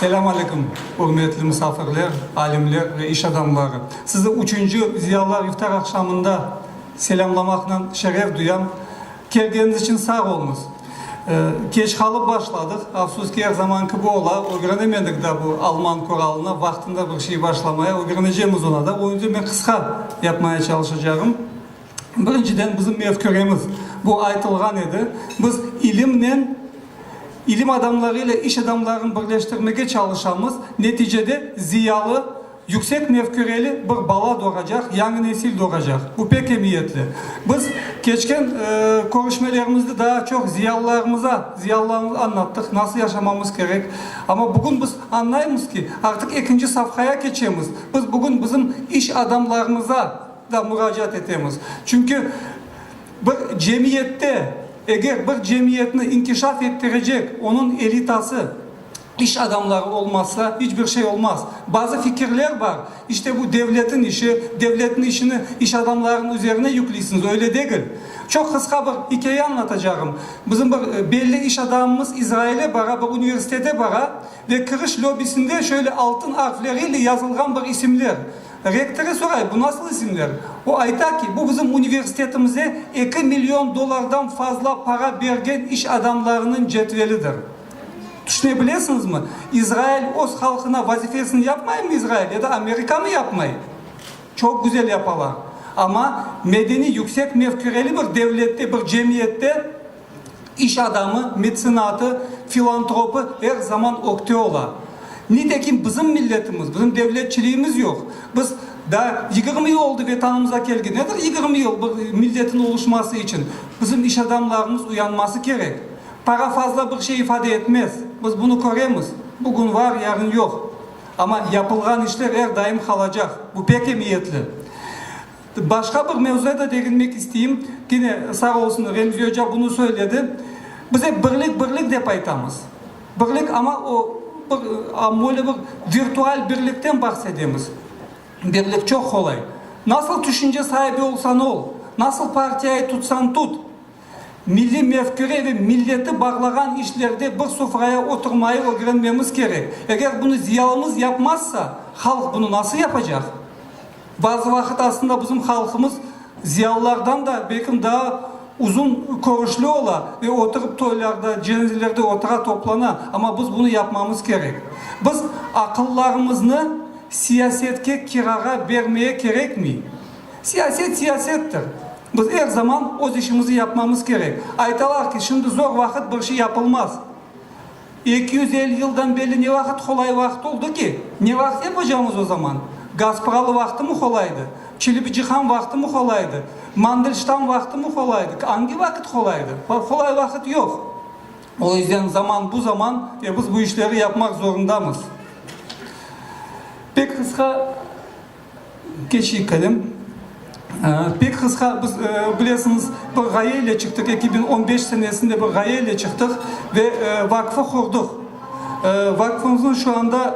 Selâm alâykum, ürmetli musafirler, alimler ve iş adamları! Sizi üçünci Ziyalılar iftar aqşamında selâmlamaqnen şeref duyam. Kelgeniñiz içün sağ oluñız. Keç qalıp başladıq, afsus ki, er zaman kibi ola, ögrenemedik daa bu alman kuralını, vaqtında bir şey başlamaya, ögrenecemiz ona da. Onı da men qısqa yapmaya çalışacağım. Birinciden, bizim mefküremiz, bu aytılğan edi, biz ilimnen, ilim adamları ile iş adamlarını birleştirmege çalışamız, neticede ziyalı, yüksek mefküreli bir bala doğacaq, yañı nesil doğacaq. Bu pek emiyetli. Biz keçken körüşmelerimizde daa çoq ziyalılarımıza, ziyalılarımıza añlattıq, nasıl yaşamamız kerek. Amma bugün biz añlaymız ki, artıq ekinci safhaya keçemiz. Biz bugün bizim iş adamlarımıza, da muracaat etemiz. Çünki bir cemiyette, eger bir cemiyetni inkişaf ettirecek onıñ elitası, iş adamları olmazsa, iç bir şey olmaz. Bazı fikirler bar, işte bu devletin işi, devletniñ işini iş adamlarınıñ üzerine yükliysiniz, öyle degil. Çoq qısqa bir ikâye añlatacağım. Bizim bir belli iş adamımız İzraile bara, bir universitete bara ve kiriş lobisinde şöyle altın arfleriyle yazılğan bir isimler. Rektorı soray, bu nasıl isimler? O ayta ki, bu bizim universitetimize eki million dollardan fazla para bergen iş adamlarınıñ cetvelidir. Tüşüne bilesiñizmi? İzrail öz halqına vazifesini yapmaymı İzrail ya da Amerika mı yapmay? Çoq güzel yapalar. Amma medeniy yüksek mefküreli bir devlette, bir cemiyette, İş adamı, metsenatı, filantropı er zaman ökte ola. Nitekim bizim milletimiz, bizim devletçiliğimiz yoq. Biz daa yigirmi yıl oldı Vetanımıza kelge. Nedir yigirmi yıl bir milletin oluşması içün? Bizim iş adamlarımız uyanması kerek. Para fazla bir şey ifade etmez. Biz bunı köremiz. Bugün var, yarın yoq. Amma yapılğan işler er daim qalacaq. Bu pek emiyetli. Başqa bir mevzuya da deginmek isteyim. Gene sağ olsun Remzi oca bunı söyledi. Biz ep birlik, birlik dep aytamız. Birlik, amma o bir, böyle bir virtual birlikten bahsedemiz. Birlik çoq qolay. Nasıl tüşünce saibi olsan ol, nasıl partiyayı tutsan tut, milliy mefküre ve milleti bağlağan işlerde bir sufraya oturmayı ögrenmemiz kerek. Eger bunı ziyalımız yapmazsa, halq bunı nasıl yapacaq? Bazı vaqıt aslında bizim halqımız ziyalılardan da belkim daa uzun körüşli ola ve oturıp toylarda, cenazelerde otura, toplana. Amma biz bunı yapmamız kerek. Biz aqıllarımıznı siyasetke kirağa bermeye kerekmey. Siyaset siyasettir. Biz er zaman öz işimizni yapmamız kerek. Aytalar ki, şimdi zor vaqıt bir şey yapılmaz. Eki yüz elli yıldan belli ne vaqıt qolay vaqıt oldı ki? Ne vaqıt yapacağımız o zaman? Gaspıralı vaqıtımı qolaydı? Çilibici han vaqıtımı qolaydı? Mandelştam vaqıtımı qolaydı? Angi vaqıt qolaydı? Qolay vaqıt yoq. O yüzden zaman bu zaman ve biz bu işleri yapmaq zorundamız. Pek qısqa. Keçik edim. Pek qısqa, biz, bilesiñiz, bir ğaye ile çıqtıq, eki biñ on beş senesinde bir ğaye ile çıqtıq ve vakfı qurduq. Vakfımıznıñ şu anda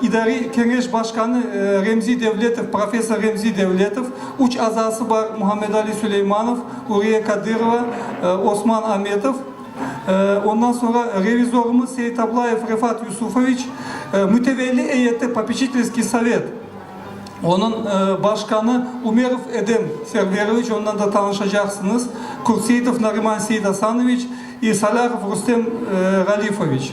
idariy keñeş başqanı Remzi Devletov, professor Remzi Devletov, üç azası bar, Muhammedali Suleymanov, Uriye Kadırova, Osman Ametov. Ondan soñra revizorımız Seitablayev Refat Yusufoviç mütevelli eyeti Popecitelskiy sovet, onıñ başqanı Umerov Edem Serveroviç, ondan da tanışacaqsıñız, Kurtseitov Nariman Seidasanoviç, i Salâhov Rustem Ralifoviç.